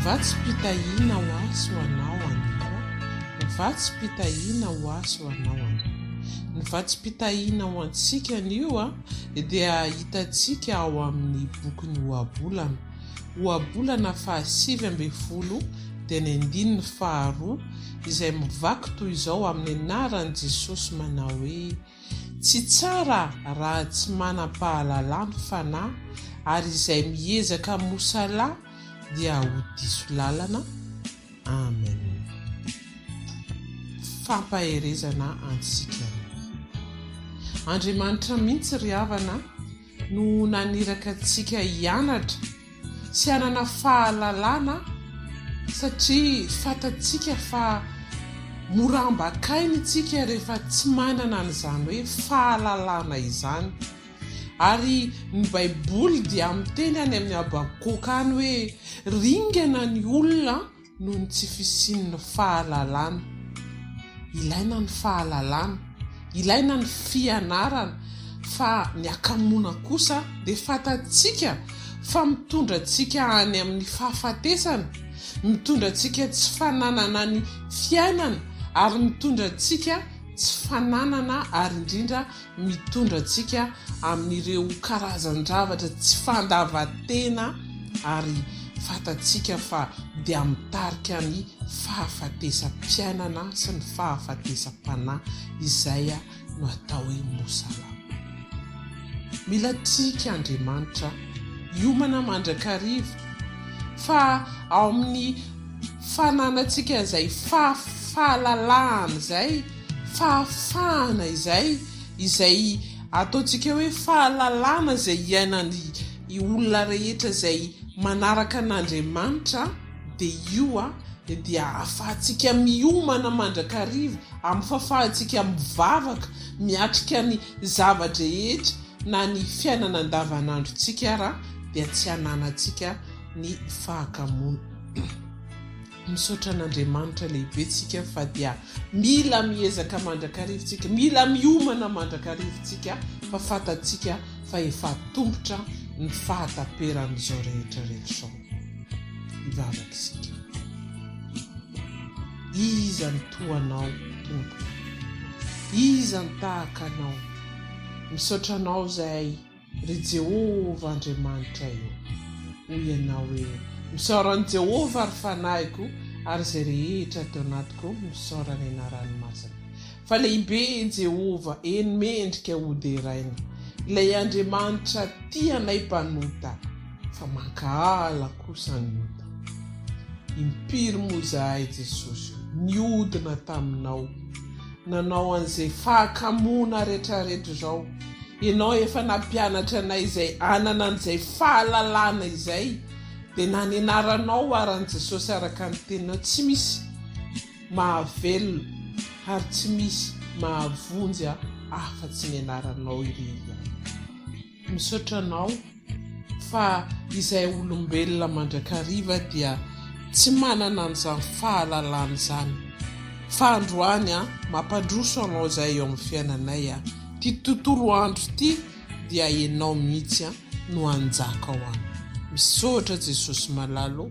Vatsim-pitahiana ho ahy sy ho anao anio an! Vatsim-pitahiana ho ahy sy ho anao anio! Ny vatsim-pitahiana ho antsika anio dia hitantsika ao amin'ny bokin'ny Ohabolana. ohabolana fahasivy ambin'ny folo dia ny andininy faharoa izay mivaky toy izao amin'ny anaran'i Jesosy manao hoe, Tsy tsara raha tsy manam-pahalalà ny fanahy, ary izay miezaka hamoha salà dia ho diso lalana. Amen. Fampaherezana antsika. Andriamanitra mihitsy ry havana. no naniraka antsika hianatra sy hanana fahalalana satria fantatsika fa mora ambakaina isika rehefa tsy manana an'izany hoe fahalalana izany. Ary ny baiboly dia miteny any amin'ny habakoka any hoe ringana ny olona noho ny tsy fisian'ny fahalalana. Ilaina ny fahalalana, ilaina ny fianarana fa ny hakamoana kosa dia fantatsika fa mitondra antsika any amin'ny fahafatesana, mitondra antsika tsy fananana ny fiainana ary mitondra antsika tsy fananana ary indrindra mitondra antsika amin'ireo karazan-javatra tsy fandavan-tena ary fantatsika fa dia mitarika ny fahafatesam-piainana sy ny fahafatesam-panahy izay no atao hoe Mosalama. Mila trick Andriamanitra hiomana mandrakariva fa ao amin'ny fananantsika izay fahalalahana izay, fahafahana izay, izay ataontsika hoe fahalalana izay iainan'ny olona rehetra izay manaraka an'Andriamanitra dia io dia ahafahantsika miomana mandrakariva, ahafahantsika mivavaka, miatrika ny zava-drehetra na ny fiainana andavanandrontsika ary dia tsy hananantsika ny fahakamoana. Misaotra an'Andriamanitra lehibe tsika fa dia mila miezaka mandrakariva tsika, mila miomana mandrakariva tsika fa fantatsika fa efa atombotra ny fahataperan'izao rehetra rehetra izao. Hivavaka isika. Iza ny toa anao Tompo? Iza ny tahaka anao? Misaotra anao izahay. Ry Jehovah Andriamanitray ô, hoy ianao hoe, Misaora an'i Jehovah, ry fanahiko, ary izay rehetra ato anatiko, misaora ny anarany masina. Fa lehibe i Jehovah, eny, mendrika hoderaina, ilay Andriamanitra tia anay mpanota, fa mankahala kosa ny ota. Impiry moa izahay, Jesosy ô, niodina taminao, nanao an'izay fahakamoana retraretra izao, Ianao efa nampianatra anay izay hanana an'izay fahalalana izay, dia nanenaranao ary an'i Jesosy araka ny Teninao, tsy misy mahavelona ary tsy misy mahavonjy aho afa-tsy ny Anaranao irery ihany. Misaotra anao fa izay olombelona mandrakariva dia tsy manana an'izany fahalalana izany fa androany an mampandroso anao izay eo amin'ny fiainanay an ity tontolo andro ity dia enao mihitsy an no hanjaka ao an misaotra Jesosy malalo